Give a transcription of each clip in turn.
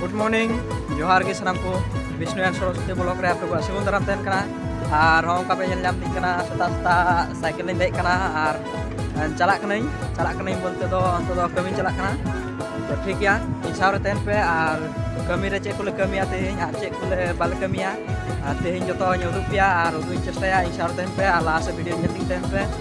good morning ᱡᱚᱦᱟᱨ ᱜᱮ ᱥᱟᱱᱟᱢ ᱠᱚ ᱵᱤᱥᱱᱩ ᱮᱱ ᱥᱚᱨᱚᱥᱚᱛᱤ ᱵᱞᱚᱠ ᱨᱮ ᱟᱯᱮ ᱠᱚᱣᱟᱜ ᱥᱤᱜᱩᱞ ᱫᱟᱨᱟᱢ ᱛᱟᱦᱮᱱ ᱠᱟᱱᱟ ᱟᱨ ᱦᱚᱸ ᱚᱱᱠᱟ ᱯᱮ ᱧᱮᱞ ᱧᱟᱢ ᱛᱤᱧ ᱠᱟᱱᱟ ᱥᱮᱛᱟᱜ ᱥᱮᱛᱟᱜ ᱥᱟᱭᱠᱮᱞ ᱞᱤᱧ ᱫᱮᱡ ᱠᱟᱱᱟ ᱟᱨ ᱪᱟᱞᱟᱜ ᱠᱟᱹᱱᱟᱹᱧ ᱪᱟᱞᱟᱜ ᱠᱟᱹᱱᱟᱹᱧ ᱵᱚᱞᱛᱮ ᱫᱚ ᱚᱱᱛᱮ ᱫᱚ ᱠᱟᱹᱢᱤ ᱪᱟᱞᱟᱜ ᱠᱟᱱᱟ ᱛᱚ ᱴᱷᱤᱠ ᱜᱮᱭᱟ ᱤᱧ ᱥᱟᱶ ᱨᱮ ᱛᱟᱦᱮᱱ ᱯᱮ ᱟᱨ ᱠᱟᱹᱢᱤ ᱨᱮ ᱪᱮᱫ ᱠᱚᱞᱮ ᱠᱟᱹᱢᱤᱭᱟ ᱛᱮᱦᱮᱧ ᱟᱨ ᱪᱮᱫ ᱠᱚᱞᱮ ᱵᱟᱞᱮ ᱠᱟᱹᱢᱤᱭᱟ ᱟᱨ ᱛᱮᱦᱮᱧ ᱡᱚᱛᱚᱧ ᱩᱫᱩᱜ ᱯᱮᱭᱟ ᱟᱨ ᱩᱫᱩᱜ ᱤᱧ ᱪᱮᱥᱴᱟᱭᱟ ᱤᱧ ᱥᱟᱶ ᱨᱮ ᱛᱟᱦᱮᱱ ᱯᱮ ᱟᱨ ᱞᱟᱦᱟ ᱥᱮᱫ ᱵᱷᱤᱰᱤᱭᱳ ᱧᱮᱞ ᱛᱤᱧ ᱛᱟᱦᱮᱱ ᱯᱮ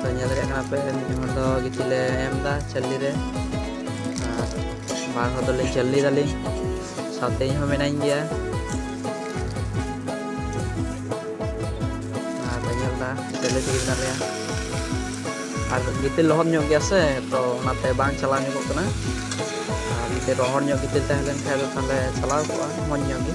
ᱛᱚ ᱧᱮᱞ ᱫᱟᱲᱮᱭᱟᱜ ᱠᱟᱱᱟ ᱯᱮ ᱢᱤᱫ ᱦᱚᱲ ᱫᱚ ᱜᱤᱛᱤᱡ ᱞᱮ ᱮᱢ ᱮᱫᱟ ᱪᱟᱹᱞᱤ ᱨᱮ ᱟᱨ ᱵᱟᱨ ᱦᱚᱲ ᱫᱚᱞᱤᱧ ᱪᱟᱹᱞᱤ ᱫᱟᱞᱤᱧ ᱥᱟᱶᱛᱮ ᱤᱧ ᱦᱚᱸ ᱢᱮᱱᱟᱧ ᱜᱮᱭᱟ ᱟᱨ ᱯᱮ ᱧᱮᱞ ᱮᱫᱟ ᱪᱟᱹᱞᱤ ᱛᱮᱜᱮ ᱢᱮᱱᱟᱜ ᱞᱮᱭᱟ ᱟᱨ ᱜᱤᱛᱤᱞ ᱞᱚᱦᱚᱫ ᱧᱚᱜ ᱜᱮᱭᱟ ᱥᱮ ᱛᱚ ᱚᱱᱟᱛᱮ ᱵᱟᱝ ᱪᱟᱞᱟᱣ ᱧᱚᱜᱚᱜ ᱠᱟᱱᱟ ᱟᱨ ᱡᱩᱫᱤ ᱨᱚᱦᱚᱲ ᱧᱚᱜ ᱜᱤᱛᱤᱞ ᱛᱟᱦᱮᱸ ᱞᱮᱱᱠᱷᱟᱱ ᱫᱚ ᱛᱟᱦᱚᱞᱮ ᱪᱟᱞᱟᱣ ᱠᱚᱜᱼᱟ ᱢᱚᱡᱽ ᱧᱚᱜ ᱜᱮ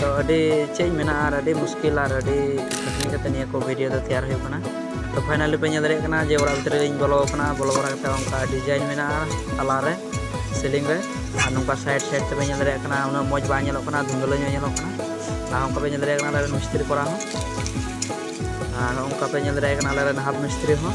ᱛᱚ ᱟᱹᱰᱤ ᱪᱮᱫ ᱤᱧ ᱢᱮᱱᱟ ᱟᱨ ᱟᱹᱰᱤ ᱢᱩᱥᱠᱤᱞ ᱟᱨ ᱟᱹᱰᱤ ᱠᱷᱟᱹᱴᱱᱤ ᱠᱟᱛᱮ ᱱᱤᱭᱟᱹ ᱠᱚ ᱵᱷᱤᱰᱤᱭᱳ ᱫᱚ ᱛᱮᱭᱟᱨ ᱦᱩᱭᱩᱜ ᱠᱟᱱᱟ ᱛᱚ ᱯᱷᱟᱭᱱᱟᱞᱤ ᱯᱮ ᱧᱮᱞ ᱫᱟᱲᱮᱭᱟᱜ ᱠᱟᱱᱟ ᱡᱮ ᱚᱲᱟᱜ ᱵᱷᱤᱛᱨᱤ ᱨᱮᱧ ᱵᱚᱞᱚ ᱟᱠᱟᱱᱟ ᱵᱚᱞᱚ ᱵᱟᱲᱟ ᱠᱟᱛᱮ ᱚᱱᱠᱟ ᱰᱤᱡᱟᱭᱤᱱ ᱢᱮᱱᱟᱜᱼᱟ ᱛᱟᱞᱟ ᱨᱮ ᱥᱤᱞᱤᱝ ᱨᱮ ᱟᱨ ᱱᱚᱝᱠᱟ ᱥᱟᱭᱤᱰ ᱥᱟᱭᱤᱰ ᱛᱮᱯᱮ ᱧᱮᱞ ᱫᱟᱲᱮᱭᱟᱜ ᱠᱟᱱᱟ ᱩᱱᱟᱹᱜ ᱢᱚᱡᱽ ᱵᱟᱝ ᱧᱮᱞᱚᱜ ᱠᱟᱱᱟ ᱫᱷᱩᱸᱫᱽᱞᱟᱹ ᱧᱚᱜ ᱧᱮᱞᱚᱜ ᱠᱟᱱᱟ ᱟᱨ ᱚᱱᱠᱟ ᱯᱮ ᱧᱮᱞ ᱫᱟᱲᱮᱭᱟᱜ ᱠᱟᱱᱟ ᱟᱞᱮ ᱢᱤᱥᱛᱨᱤ ᱠᱚᱨᱟᱣ ᱦᱚᱸ ᱟᱨ ᱚᱱᱠᱟ ᱯᱮ ᱧᱮᱞ ᱫᱟᱲᱮᱭᱟᱜ ᱠᱟᱱᱟ ᱟᱞᱮ ᱨᱮᱱ ᱦᱟᱵ ᱢᱤᱥᱛᱨᱤ ᱦᱚᱸ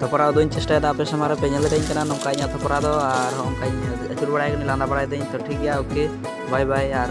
ᱛᱷᱚᱯᱨᱟ ᱩᱫᱩᱜ ᱤᱧ ᱪᱮᱥᱴᱟᱭᱮᱫᱟ ᱟᱯᱮ ᱥᱟᱢᱟᱝ ᱨᱮ ᱯᱮ ᱧᱮᱞ ᱫᱟᱲᱮᱭᱟᱹᱧ ᱠᱟᱱᱟ ᱱᱚᱝᱠᱟ ᱤᱧᱟᱹᱜ ᱛᱷᱚᱯᱨᱟ ᱫᱚ ᱟᱨ ᱚᱱᱠᱟᱧ ᱟᱹᱪᱩᱨ ᱵᱟᱲᱟᱭ ᱠᱟᱹᱱᱟᱹᱧ ᱞᱟᱸᱫᱟ ᱵᱟᱲᱟᱭ ᱫᱟᱹᱧ ᱛᱚ ᱴᱷᱤᱠ ᱜᱮᱭᱟ ᱳᱠᱮ ᱵᱟᱭ ᱵᱟᱭ ᱟᱨ